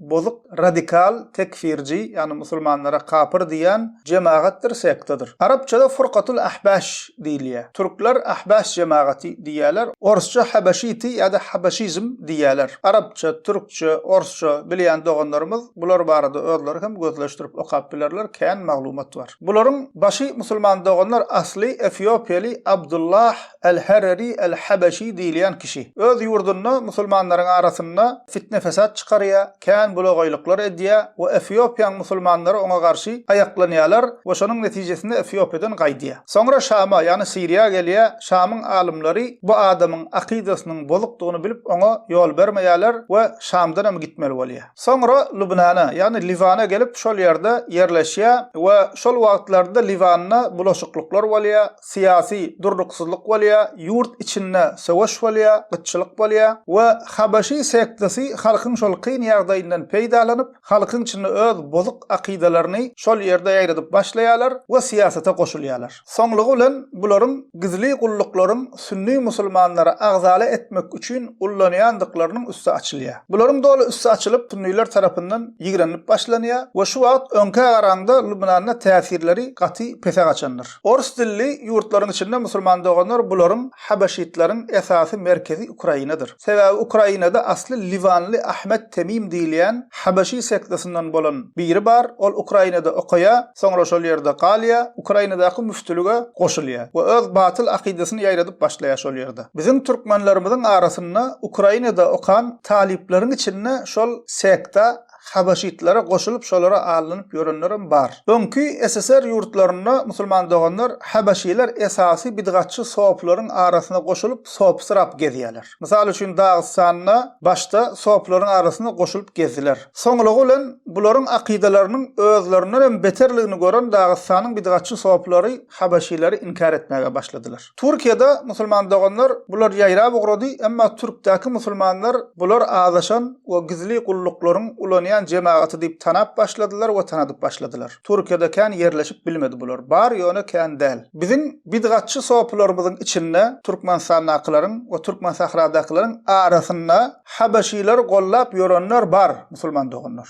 bozuk radikal tekfirji ýagny musulmanlara kapyr diýýän jemagatdyr sektadyr. Arapçada furkatul ahbaş diýilýär. Türkler ahbaş jemagaty diýýärler. Orsça habaşiti ýa-da habaşizm diýýärler. Arapça, türkçe, orsça bilýän doganlarymyz bular barada özleri hem gözleşdirip okap bilerler kän maglumat bar. Bularyň başy musulman doganlar asly efiopiýaly Abdullah Al-Harari Al-Habaşi diýilýän kişi. Öz ýurdunda musulmanlaryň arasynda fitne-fesat çykarýar, kän bulagaýlyklar edýär we Efiopiýaň musulmanlary oňa garşy aýaklanýarlar we şonuň netijesinde Efiopiýadan gaýdýar. Soňra Şama, ýagny Siriýa gelýär, Şamyň alymlary bu adamyň akydasynyň bozukdygyny bilip oňa ýol bermeýärler we Şamdan hem gitmeli bolýar. Soňra Lubnana, ýagny Liwana gelip şol ýerde ýerleşýär we şol wagtlarda Liwanda bulaşyklyklar bolýar, syýasy durnuksyzlyk bolýar, ýurt içinde söweş bolýar, gytçylyk bolýar we habaşy sektasy halkyň şol kyn ýagdaýyndan peýdalanyp, halkyň içinde öz bozuk akydalaryny şol ýerde ýaýradyp başlaýarlar we syýasata goşulýarlar. Soňlugy bilen bularyň gizli gulluklaryň sünni musulmanlary agzala etmek üçin ullanýandyklarynyň üsti açylýar. Bularyň doly üsti açylyp, sünniler tarapyndan ýigrenilip başlanýar we şu wagt öňkä garaňda Lubnanda täsirleri gaty pese gaçandyr. Ors dilli ýurtlaryň içinde musulman doganlar bularyň habaşitlaryň esasy merkezi Ukrainadyr. Sebäbi Ukrainada asly liwanly Ahmet Temim diýilýän habaşi sektasinden bolan biri bar, ol Ukrainada okaýa, soňra şol ýerde galýa, Ukrainadaky müftülige goşulýa we öz batyl akydasyny ýaýradyp başlaýa şol ýerde. Biziň türkmenlerimiziň arasynda Ukrainada okan talyplaryň içinde şol sekta habaşytlara goşulyp şolara alnynyp ýörenlerem bar. Öňki SSR ýurtlarynda musulman doganlar habaşylar esasy bidgatçy sopylaryň arasyna goşulyp sopysyrap gezýärler. Mysal üçin Dagystanda başda sopylaryň arasyna goşulyp gezdiler. Soňlugy bilen bularyň akydalarynyň özlerindenem beterligini gören Dagystanyň bidgatçy sopylary habaşylary inkär etmäge başladylar. Türkiýede musulman doganlar bular ýaýrap ugrady, emma türkdäki musulmanlar bular azaşan we gizli gulluklaryň ulanýan jemagaty diýip tanap başladylar we tanadyp başladylar. Türkiýede kän ýerleşip bilmedi bular. Bar ýöne kän däl. Biziň bidgatçy sopylarymyzyň içinde türkmenistandakylaryň we türkmensahradakylaryň arasynda habeşileri gollap ýörenler bar musulman doganlar.